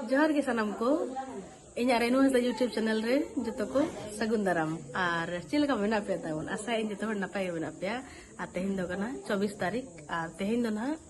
ᱡᱚᱦᱟᱨ ᱜᱮ ᱥᱟᱱᱟᱢ ᱠᱚ ᱤᱧᱟᱹᱜ ᱨᱮᱱᱩ ᱦᱟᱸᱥᱫᱟ ᱭᱩᱴᱩᱵᱽ ᱪᱮᱱᱮᱞ ᱨᱮ ᱡᱚᱛᱚ ᱠᱚ ᱥᱟᱹᱜᱩᱱ ᱫᱟᱨᱟᱢ ᱟᱨ ᱪᱮᱫ ᱞᱮᱠᱟ ᱢᱮᱱᱟᱜ ᱯᱮᱭᱟ ᱛᱟᱵᱚᱱ ᱟᱥᱟᱭᱟᱹᱧ ᱡᱚᱛᱚ ᱦᱚᱲ ᱱᱟᱯᱟᱭ ᱜᱮ ᱢᱮᱱᱟᱜ ᱯᱮᱭᱟ ᱟᱨ ᱛᱮᱦᱮᱧ ᱫᱚ ᱠᱟᱱᱟ ᱪᱚᱵᱵᱤᱥ ᱛᱟᱹᱨᱤᱠᱷ ᱟᱨ ᱛᱮᱦᱮᱧ ᱫᱚ ᱱᱟᱦᱟᱜ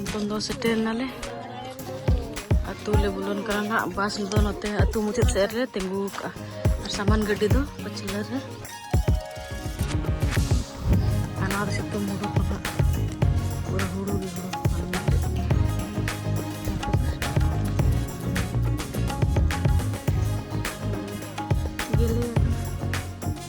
ᱱᱤᱛᱚᱝ ᱫᱚ ᱥᱮᱴᱮᱨ ᱱᱟᱞᱮ ᱟᱹᱛᱩ ᱞᱮ ᱵᱚᱞᱚᱱ ᱠᱟᱱᱟ ᱱᱟᱦᱟᱜ ᱵᱟᱥ ᱫᱚ ᱱᱚᱛᱮ ᱟᱹᱛᱩ ᱢᱩᱪᱟᱹᱫ ᱥᱮᱫ ᱨᱮ ᱛᱤᱸᱜᱩ ᱟᱠᱟᱜᱼᱟ ᱟᱨ ᱥᱟᱢᱟᱱ ᱜᱟᱹᱰᱤ ᱫᱚ ᱯᱟᱹᱪᱷᱞᱟᱹ ᱨᱮ ᱟᱨ ᱱᱚᱣᱟ ᱫᱚ ᱥᱤᱛᱩᱝ ᱦᱩᱲᱩ ᱠᱚ ᱱᱟᱦᱟᱜ ᱯᱩᱨᱟᱹ ᱦᱩᱲᱩ ᱜᱮ ᱦᱩᱲᱩ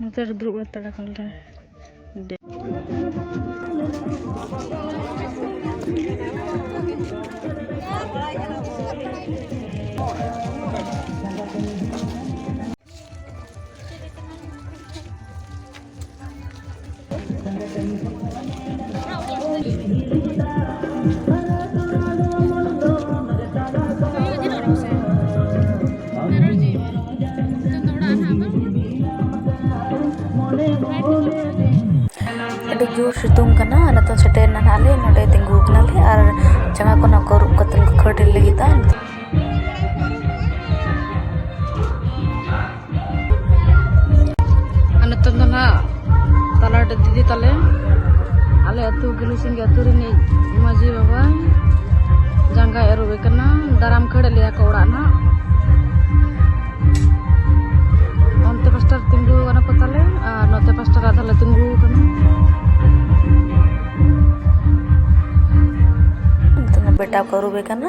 ᱱᱚᱛᱮ ᱨᱮ ᱫᱩᱲᱩᱵ ᱦᱟᱛᱟᱲ ᱟᱠᱟᱱᱞᱮ ᱟᱹᱰᱤ ᱡᱳᱨ ᱥᱤᱛᱩᱝ ᱠᱟᱱᱟ ᱱᱤᱛᱚᱜ ᱥᱮᱴᱮᱨ ᱮᱱᱟ ᱦᱟᱸᱜ ᱞᱮ ᱱᱚᱰᱮ ᱛᱤᱸᱜᱩ ᱠᱟᱱᱟᱞᱮ ᱟᱨ ᱡᱟᱸᱜᱟ ᱠᱚ ᱱᱚᱝᱠᱟ ᱟᱹᱨᱩᱵ ᱠᱟᱛᱮᱫ ᱠᱚ ᱠᱷᱟᱹᱲ ᱞᱟᱹᱜᱤᱫᱼᱟ ᱱᱤᱛᱚᱝ ᱫᱚ ᱱᱟᱜ ᱛᱟᱞᱟᱴᱮ ᱫᱤᱫᱤ ᱛᱟᱞᱮ ᱟᱞᱮ ᱟᱹᱛᱩ ᱜᱤᱞᱩᱥᱤᱝᱜ ᱟᱹᱛᱩ ᱨᱤᱱᱤᱡ ᱢᱟᱹᱡᱷᱤ ᱵᱟᱵᱟ ᱡᱟᱸᱜᱟᱭ ᱟᱹᱨᱩᱵᱮ ᱠᱟᱱᱟ ᱫᱟᱨᱟᱢ ᱠᱷᱟᱹᱲ ᱞᱮᱭᱟ ᱠᱚ ᱚᱲᱟᱜ ᱱᱟᱜ ᱚᱱᱛᱮ ᱯᱟᱥᱴᱟᱨ ᱛᱤᱸᱜᱩ ᱠᱟᱱᱟ ᱠᱚ ᱛᱟᱞᱮ ᱟᱨ ᱱᱚᱛᱮ ᱯᱟᱥᱴᱟᱨ ᱟᱫᱷᱟ ᱞᱮ ᱛᱤᱸᱜᱩ ᱠᱟᱱᱟ ᱵᱮᱴᱟ ᱠᱚ ᱟᱹᱨᱩᱵᱮ ᱠᱟᱱᱟ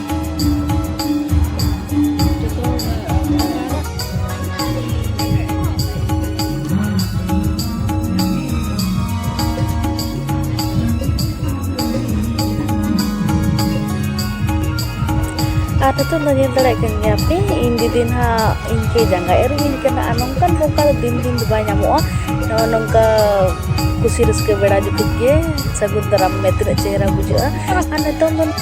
ᱟᱨ ᱱᱤᱛᱚᱜ ᱫᱚ ᱧᱮᱞ ᱫᱟᱲᱮᱭᱟᱜ ᱠᱟᱱ ᱜᱮᱭᱟ ᱯᱮ ᱤᱧ ᱫᱤᱫᱤ ᱱᱟᱦᱟᱜ ᱤᱧ ᱠᱮ ᱡᱟᱸᱜᱟ ᱮᱨᱩᱧ ᱠᱟᱱᱟ ᱟᱨ ᱱᱚᱝᱠᱟᱱ ᱢᱚᱠᱟ ᱫᱚ ᱫᱤᱱ ᱫᱤᱱ ᱫᱚ ᱵᱟᱭ ᱧᱟᱢᱚᱜᱼᱟ ᱱᱚᱜᱼᱚ ᱱᱚᱝᱠᱟ ᱠᱩᱥᱤ ᱨᱟᱹᱥᱠᱟᱹ ᱵᱮᱲᱟ ᱡᱩᱴᱤᱡ ᱜᱮ ᱥᱟᱹᱜᱩᱱ ᱫᱟᱨᱟᱢ ᱢᱮ ᱛᱤᱱᱟᱹᱜ ᱪᱮᱦᱨᱟ ᱵᱩᱡᱷᱟᱹᱜᱼᱟ ᱟᱨ ᱱᱤᱛᱚᱝ ᱫᱚ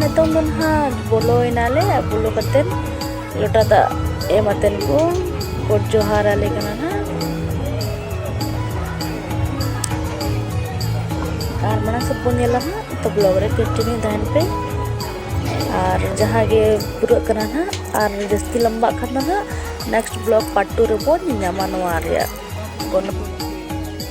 ᱱᱤᱛᱚᱝ ᱫᱚ ᱱᱟᱦᱟᱜ ᱵᱚᱞᱚᱭᱮᱱᱟᱞᱮ ᱵᱚᱞᱚ ᱠᱟᱛᱮᱫ ᱞᱚᱴᱟ ᱫᱟᱜ ᱮᱢ ᱟᱛᱮᱱ ᱠᱚ ᱜᱚᱰ ᱡᱚᱦᱟᱨ ᱟᱞᱮ ᱠᱟᱱᱟ ᱱᱟᱦᱟᱜ ᱟᱨ ᱢᱟᱲᱟᱝ ᱥᱮᱫ ᱵᱚᱱ ᱧᱮᱞᱟ ᱱᱟᱦᱟᱜ ᱛᱚ ᱵᱞᱚᱜ ᱨᱮ ᱠᱚᱱᱴᱤᱱᱤᱭᱩ ᱛᱟᱦᱮᱱ ᱯᱮ ᱟᱨ ᱡᱟᱦᱟᱸ ᱜᱮ ᱯᱩᱨᱟᱹᱜ ᱠᱟᱱᱟ ᱱᱟᱦᱟᱜ ᱟᱨ ᱡᱟᱹᱥᱛᱤ ᱞᱟᱢᱵᱟᱜ ᱠᱷᱟᱱ ᱫᱚ ᱱᱟᱦᱟᱜ ᱱᱮᱠᱥᱴ ᱵᱞᱚᱜ ᱯᱟᱨᱴ ᱴᱩ ᱨᱮᱵᱚᱱ ᱧᱟᱢᱟ ᱱᱚᱣᱟ ᱨᱮᱭᱟᱜ ᱜᱚᱱᱚᱝ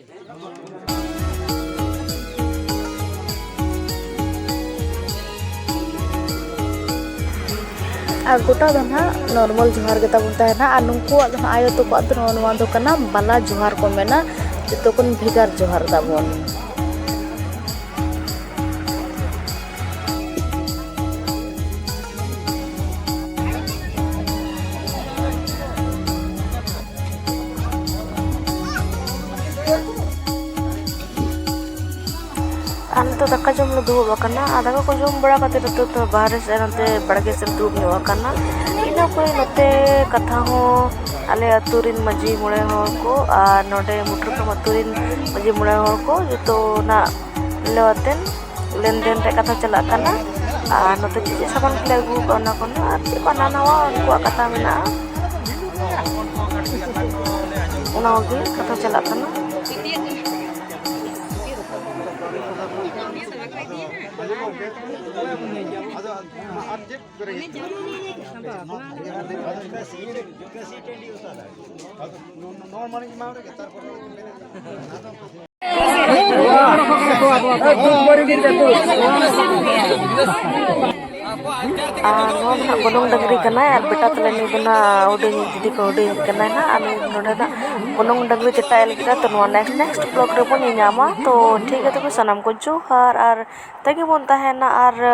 ᱟᱨ ᱜᱚᱴᱟ ᱫᱚ ᱱᱟᱦᱟᱜ ᱱᱚᱨᱢᱟᱞ ᱡᱚᱦᱟᱨ ᱜᱮ ᱛᱟᱵᱚᱱ ᱛᱟᱦᱮᱱᱟ ᱟᱨ ᱱᱩᱠᱩᱣᱟᱜ ᱫᱚ ᱱᱟᱦᱟᱜ ᱟᱭᱳ ᱛᱟᱠᱚᱣᱟᱜ ᱫᱚ ᱱᱚᱣᱟ ᱱᱚᱣᱟ ᱫᱚ ᱠᱟᱱᱟ ᱵᱟᱞᱟ ᱡᱚᱦᱟᱨ ᱠᱚ ᱢᱮᱱᱟ ᱡᱚᱛᱚ ᱠᱷᱚᱱ ᱵᱷᱮᱜᱟᱨ ᱡᱚᱦᱟᱨ ᱛᱟᱵᱚᱱ ᱟᱨ ᱱᱤᱛᱚᱜ ᱫᱟᱠᱟ ᱡᱚᱢ ᱞᱮ ᱫᱩᱲᱩᱵ ᱟᱠᱟᱱᱟ ᱟᱨ ᱫᱟᱠᱟ ᱠᱚ ᱡᱚᱢ ᱵᱟᱲᱟ ᱠᱟᱛᱮ ᱱᱤᱛᱚᱜ ᱫᱚ ᱵᱟᱦᱨᱮ ᱥᱮᱫ ᱱᱚᱛᱮ ᱵᱟᱲᱜᱮ ᱥᱮᱫ ᱫᱩᱲᱩᱵ ᱧᱚᱜ ᱟᱠᱟᱱᱟ ᱤᱱᱟᱹ ᱯᱚᱨᱮ ᱱᱚᱛᱮ ᱠᱟᱛᱷᱟ ᱦᱚᱸ ᱟᱞᱮ ᱟᱛᱳ ᱨᱮᱱ ᱢᱟᱹᱡᱷᱤ ᱢᱚᱬᱮ ᱦᱚᱲ ᱠᱚ ᱟᱨ ᱱᱚᱰᱮ ᱢᱩᱴᱷᱟᱹᱱ ᱰᱩᱝᱨᱤ ᱟᱛᱳ ᱨᱮᱱ ᱢᱟᱹᱡᱷᱤ ᱢᱚᱬᱮ ᱦᱚᱲ ᱠᱚ ᱡᱚᱛᱚᱱᱟᱜ ᱢᱤᱞᱟᱹᱣ ᱟᱛᱮᱱ ᱞᱮᱱᱫᱮᱱ ᱨᱮᱭᱟᱜ ᱠᱟᱛᱷᱟ ᱪᱟᱞᱟᱜ ᱠᱟᱱᱟ ᱟᱨ ᱱᱚᱛᱮ ᱪᱮᱫ ᱪᱮᱫ ᱥᱟᱢᱟᱱ ᱠᱚᱞᱮ ᱟᱹᱜᱩ ᱟᱠᱟᱫᱼᱟ ᱚᱱᱟ ᱠᱚᱦᱚᱸ ᱟᱨ ᱪᱮᱫ ᱠᱚ ᱦᱟᱱᱟ ᱱᱟᱣᱟ ᱩᱱᱠᱩᱣᱟᱜ ᱠᱟᱛᱷᱟ ᱢᱮᱱᱟᱜᱼᱟ ᱚᱱᱟ ᱠᱚᱜᱮ ᱠᱟᱛᱷᱟ ᱪᱟᱞᱟᱜ ᱠᱟᱱᱟ ᱟᱫᱚ ᱟᱨ ᱪᱮᱫ ᱵᱚᱱᱚᱝ ᱰᱟᱹᱝᱨᱤ ᱠᱟᱱᱟᱭ ᱟᱨ ᱵᱮᱴᱟ ᱛᱟᱞᱮ ᱱᱩᱭ ᱫᱚ ᱱᱟᱜ ᱦᱩᱰᱤᱧ ᱡᱩᱫᱤ ᱠᱚ ᱦᱩᱰᱤᱧ ᱠᱟᱱᱟᱭ ᱱᱟᱜ ᱟᱨ ᱱᱩᱭ ᱱᱚᱰᱮ ᱱᱟᱜ ᱵᱚᱱᱚᱝ ᱰᱟᱹᱝᱨᱤ ᱪᱮᱛᱟᱭ ᱞᱟᱹᱜᱤᱫ ᱛᱚ ᱱᱚᱣᱟ ᱱᱮᱠᱥᱴ ᱱᱮᱠᱥᱴ ᱵᱞᱚᱜᱽ ᱨᱮᱵᱚᱱ ᱧᱮᱧᱟᱢᱟ ᱛᱚ ᱴᱷᱤᱠ ᱜᱮᱭᱟ ᱛᱚᱵᱮ ᱥᱟᱱᱟᱢ ᱠᱚ ᱡᱚᱦᱟᱨ ᱟᱨ ᱛᱮᱜᱮ ᱵᱚᱱ ᱛᱟᱦᱮᱱᱟ ᱟᱨ